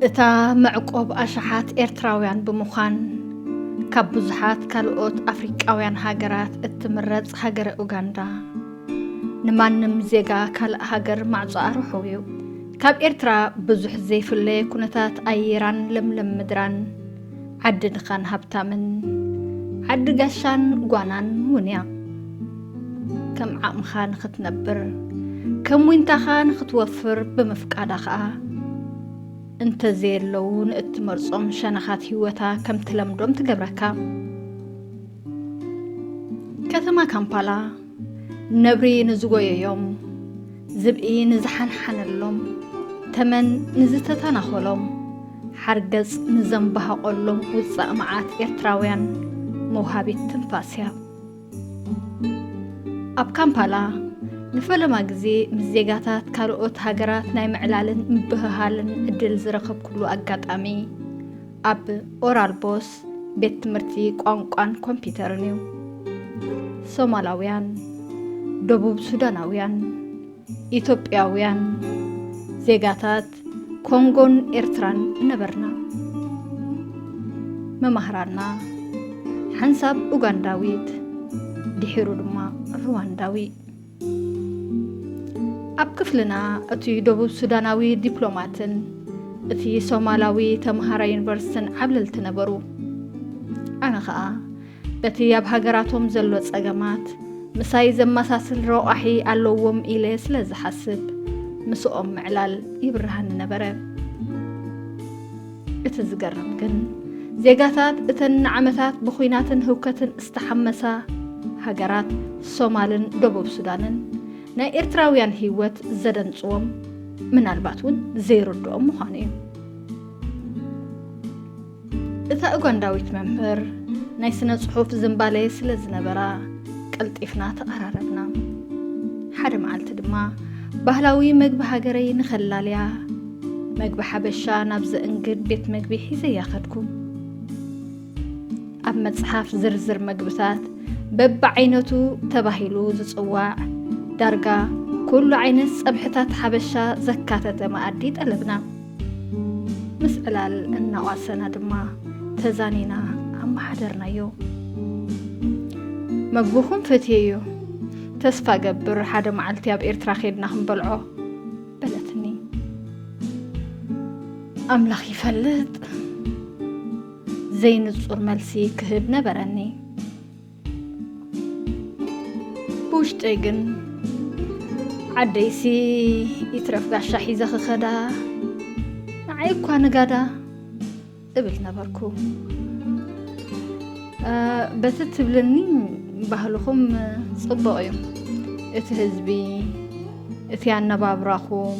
እታ መዕቆብ ኣሽሓት ኤርትራውያን ብምዃን ካብ ብዙሓት ካልኦት ኣፍሪቃውያን ሃገራት እትምረጽ ሃገረ ኡጋንዳ ንማንም ዜጋ ካልእ ሃገር ማዕጾ ኣርሑ እዩ ካብ ኤርትራ ብዙሕ ዘይፍለየ ኩነታት ኣየራን ለምለም ምድራን ዓዲ ድኻን ሃብታምን ዓዲ ጋሻን ጓናን እውን እያ። ከም ዓቕምኻ ንኽትነብር ከም ዊንታኻ ንኽትወፍር ብምፍቃዳ ኸኣ እንተዘየለዉ ንእትመርጾም ሸነኻት ህይወታ ከም ትለምዶም ትገብረካ። ከተማ ካምፓላ ነብሪ ንዝጎየዮም፣ ዝብኢ ንዝሓንሓነሎም፣ ተመን ንዝተተናኾሎም፣ ሓርገጽ ንዘምባህቖሎም ውጻእ መዓት ኤርትራውያን መውሃቢት ትንፋስ እያ። ኣብ ካምፓላ ንፈለማ ግዜ ምስ ዜጋታት ካልኦት ሃገራት ናይ ምዕላልን ምብህሃልን ዕድል ዝረኸብኩሉ ኣጋጣሚ፣ ኣብ ኦራል ቦስ ቤት ትምህርቲ ቋንቋን ኮምፒውተርን እዩ። ሶማላውያን፣ ደቡብ ሱዳናውያን፣ ኢትዮጵያውያን ዜጋታት ኮንጎን ኤርትራን ነበርና። መማህራና ሓንሳብ ኡጋንዳዊት ድሒሩ ድማ ሩዋንዳዊ ኣብ ክፍልና እቲ ደቡብ ሱዳናዊ ዲፕሎማትን እቲ ሶማላዊ ተምሃራይ ዩኒቨርሲትን ዓብለልቲ ነበሩ ኣነ ኸኣ በቲ ኣብ ሃገራቶም ዘሎ ጸገማት ምሳይ ዘመሳስል ረቋሒ ኣለዎም ኢለ ስለ ዝሓስብ ምስኦም ምዕላል ይብርሃኒ ነበረ እቲ ዝገርም ግን ዜጋታት እተን ንዓመታት ብኹናትን ህውከትን ዝተሓመሳ ሃገራት ሶማልን ደቡብ ሱዳንን ናይ ኤርትራውያን ህይወት ዘደንጽዎም ምናልባት እውን ዘይርድኦም ምዃኑ እዩ። እታ ኡጋንዳዊት መምህር ናይ ስነ ጽሑፍ ዝምባሌ ስለ ዝነበራ ቀልጢፍና ተቐራረብና። ሓደ መዓልቲ ድማ ባህላዊ መግቢ ሃገረይ ንኸላልያ መግቢ ሓበሻ ናብ ዘእንግድ ቤት መግቢ ሒዘያ ከድኩም ኣብ መጽሓፍ ዝርዝር መግብታት በብዓይነቱ ተባሂሉ ዝጽዋዕ ዳርጋ ኩሉ ዓይነት ጸብሕታት ሓበሻ ዘካተተ መኣዲ ጠለብና ምስ ዕላል እናቋሰና ድማ ተዛኒና ኣመሓደርናዮ መግብኹም ፈትየዮ ተስፋ ገብር ሓደ መዓልቲ ኣብ ኤርትራ ኼድና ክንበልዖ በለትኒ ኣምላኽ ይፈልጥ ዘይንጹር መልሲ ክህብ ነበረኒ ብውሽጠይ ግን ዓደይሲ ይትረፍ ጋሻ ሒዘ ክኸዳ ንዓይ እኳ ንጋዳ እብል ነበርኩ። በቲ ትብልኒ ባህልኹም ጽቡቕ እዩ። እቲ ህዝቢ፣ እቲ ኣነባብራኹም፣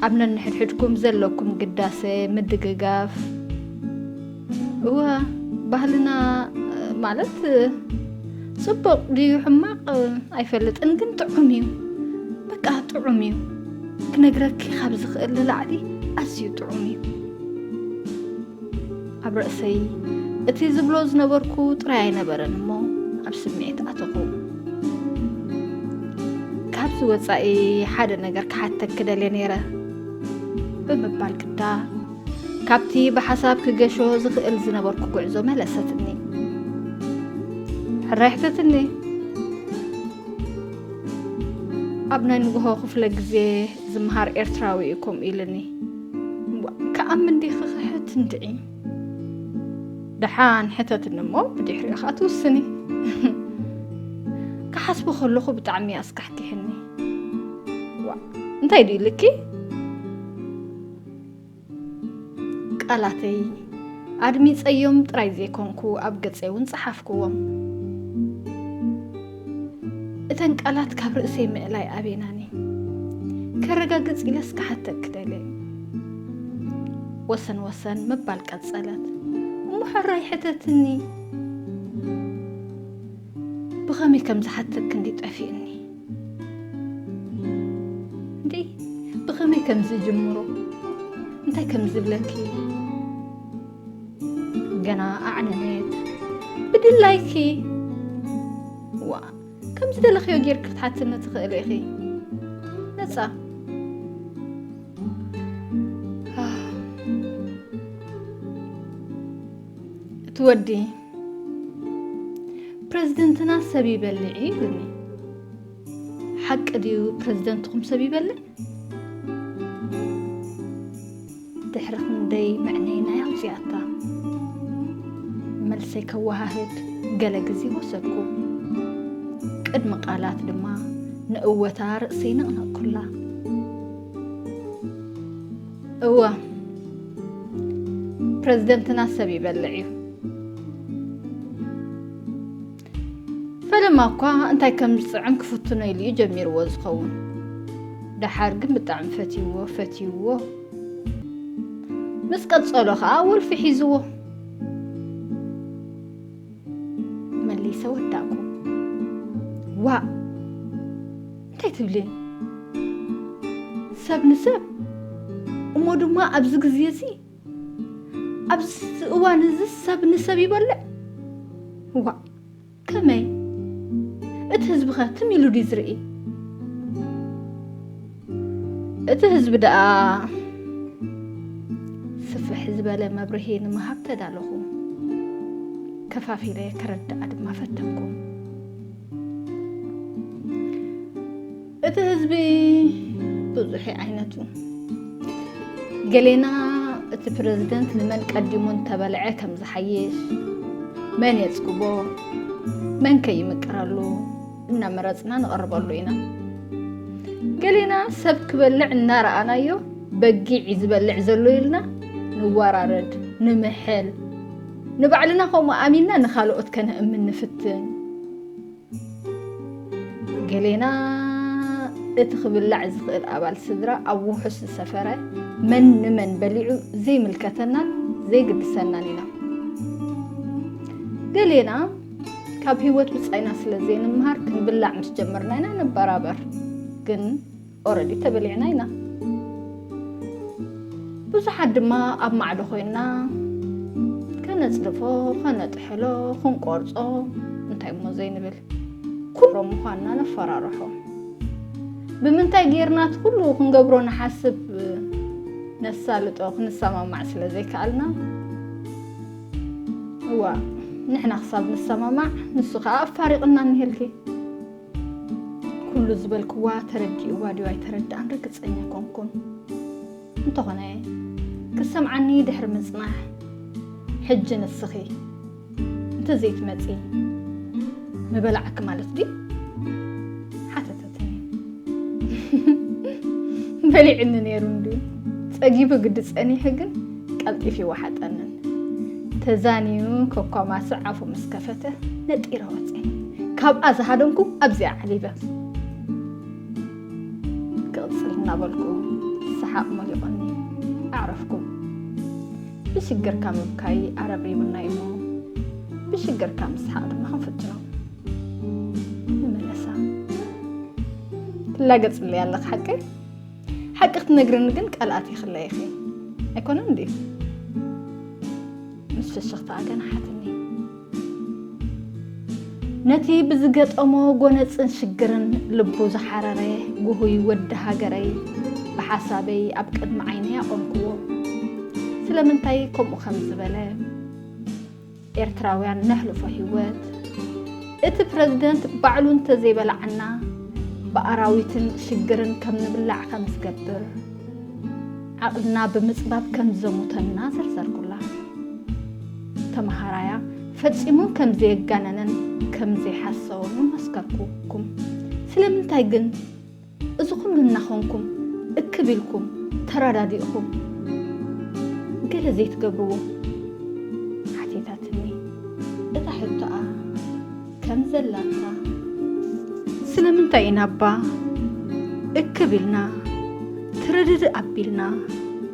ኣብ ነንሕድሕድኩም ዘለኩም ግዳሰ፣ ምድግጋፍ እወ ባህልና ማለት ጽቡቕ ድዩ ሕማቕ ኣይፈልጥን፣ ግን ጥዑም እዩ። በቃ ጥዑም እዩ። ክነግረኪ ካብ ዝኽእል ንላዕሊ ኣዝዩ ጥዑም እዩ ኣብ ርእሰይ እቲ ዝብሎ ዝነበርኩ ጥራይ ኣይነበረን እሞ ኣብ ስምዒት ኣተኹ ካብዚ ወፃኢ ሓደ ነገር ክሓተክ ክደልየ ነይረ ብምባል ግዳ ካብቲ ብሓሳብ ክገሾ ዝኽእል ዝነበርኩ ጉዕዞ መለሰትኒ ሕራይ ሕተትኒ ኣብ ናይ ንግሆ ክፍለ ግዜ ዝምሃር ኤርትራዊ እዩ ከምኡ ኢልኒ ክኣምን ዲ ክኽሕት እንድዒ ደሓን ሕተትኒ እሞ ብድሕሪኡ ከዓ ትውስኒ ክሓስቦ ከለኹ ብጣዕሚ ኣስካሕኪሕኒ እንታይ ድዩ ልኪ ቃላተይ ኣድሚጸዮም ጥራይ ዘይኮንኩ ኣብ ገጸይ ውን ጸሓፍኩዎም። እተን ቃላት ካብ ርእሰይ ምእላይ ኣቤናኒ። ከረጋግጽ ኢለስ ክሓተኪ ደልየ። ወሰን ወሰን ምባል ቀጸለት። እሞ ሕራይ ሕተትኒ። ብኸመይ ከም ዝሓተክ እንዲ ጠፊእኒ እንዲ ብኸመይ ከም ዝጅምሮ እንታይ ከም ዝብለኪ ገና ኣዕነነት ብድላይኪ ዋ ከም ዝደለኽዮ ጌርክ ክትሓትኒ ትኽእሊ ኢኺ ነፃ እቲ ወዲ ፕረዚደንትና ሰብ ይበልዕ እዩ ኢሉኒ። ሓቂ ድዩ ፕረዚደንትኹም ሰብ ይበልዕ? ድሕሪ ክንደይ መዕነይናይ ኣውፅኣታ መልሰይ ከወሃህድ ገለ ግዜ ወሰድኩ። ቅድሚ ቃላት ድማ ንእወታ ርእሰይ ነቕነቕኩላ። እወ ፕረዚደንትና ሰብ ይበልዕ እዩ ፈለማ እኳ እንታይ ከም ዝፅዕም ክፍትኖ ኢሉ እዩ ጀሚርዎ ዝኸውን ደሓር ግን ብጣዕሚ ፈትይዎ ፈትይዎ ምስ ቀፀሎ ከዓ ውልፊ ሒዝዎ መሊሰ ወዳእኩ ዋእ እንታይ ትብሊ ሰብ ንሰብ እሞ ድማ ኣብዚ ግዜ እዚ ኣብዚ እዋን እዚ ሰብ ንሰብ ይበልዕ ዋእ ከመይ እቲ ህዝቢ ከ ትም ኢሉ ድዩ ዝርኢ እቲ ህዝቢ ደኣ ስፍሕ ዝበለ መብርሂ ንምሃብ ተዳለኹ ከፋፊለ ክረድኣ ድማ ፈተንኩ እቲ ህዝቢ ብዙሕ ዓይነቱ ገሌና እቲ ፕረዚደንት ንመን ቀዲሙ እንተበልዐ ከም ዝሓይሽ መን የፅግቦ መን ከይምቅረሉ እናመረፅና ንቐርበሉ ኢና ገሌና ሰብ ክበልዕ እናረኣናዮ በጊዕ ዝበልዕ ዘሎ ኢልና ንወራረድ ንምሕል ንባዕልና ከምኡ ኣሚንና ንኻልኦት ከነእምን ንፍትን። ገሌና እቲ ክብላዕ ዝኽእል ኣባል ስድራ ኣብ ውሑስ ዝሰፈረ መን ንመን በሊዑ ዘይምልከተናን ዘይግድሰናን ኢና። ገሌና ካብ ህይወት ብጻይና ስለ ዘይንምሃር ክንብላዕ ምስ ጀመርና ኢና ንበራበር ግን ኦረዲ ተበሊዕና ኢና ብዙሓት ድማ ኣብ ማዕዶ ኮይንና ከነፅድፎ ከነጥሕሎ ክንቆርፆ እንታይ እሞ ዘይንብል ኩሎም ምዃንና ነፈራርሖ ብምንታይ ጌርና እቲ ኩሉ ክንገብሮ ንሓስብ ነሳልጦ ክንሰማማዕ ስለ ዘይከኣልና እዋ ንሕና ክሳብ ንሰማማዕ ንሱ ከዓ ኣፋሪቕና እንሄልኪ ኩሉ ዝበልክዋ ተረዲእዋ ድዩ ኣይተረድኣን ርግጸኛ ኣይኮንኩን። እንተኾነ ክትሰምዓኒ ድሕሪ ምጽናሕ ሕጂ ንስኺ እንተዘይትመጺ ምበላዕኪ ማለት ድዩ? ሓተተትኒ። በሊዕኒ ነይሩ እንድዩ ጸጊቡ ግዲ ጸኒሑ ግን ቀልጢፉ ይወሓጠንን ተዛንዩ ኮኳማስዕ ኣፉ ምስ ከፈተ ነጢረ ወፅኤ ካብኣ ዝሃደምኩ ኣብዚኣ ዓሊበ ክቕፅል እናበልኩ ሰሓቕ መሊቑኒ ኣዕረፍኩ ብሽግርካ ምብካይ ኣረብሪቡና እሞ ብሽግርካ ምስሓቕ ድማ ክንፍትኖ ንመለሳ ትላገፅለይ ኣለኽ ሓቀይ ሓቂ ክትነግርኒ ግን ቀልኣት ይኽለይ ኢኺ ኣይኮነን ድዩ ምስ ፍሽኽታኣ ገናሓትኒ ነቲ ብዝገጠሞ ጎነፅን ሽግርን ልቡ ዝሓረረ ጉሁይ ወዲ ሃገረይ ብሓሳበይ ኣብ ቅድሚ ዓይነይ ኣቖምክዎ ስለምንታይ ከምኡ ከም ዝበለ ኤርትራውያን ነሕልፎ ሂወት እቲ ፕረዚደንት ባዕሉ እንተዘይበላዕና ብኣራዊትን ሽግርን ከም ንብላዕ ከም ዝገብር ዓቕልና ብምጽባብ ከም ዘሙተና ዘርዘርኩላ። ተመሃራያ ፈጺሙ ከም ዘየጋነነን ከም ዘይሓሰወን እውን መስከርኩኩም። ስለምንታይ ግን? እዚ ኩሉ እናኾንኩም እክብ ኢልኩም ተራዳዲእኹም ገለ ዘይትገብርዎ? ሓቲታትኒ። እታ ሕቶኣ ከም ዘላታ። ስለምንታይ ኢና እባ እክብ ኢልና ትርድድእ ኣቢልና?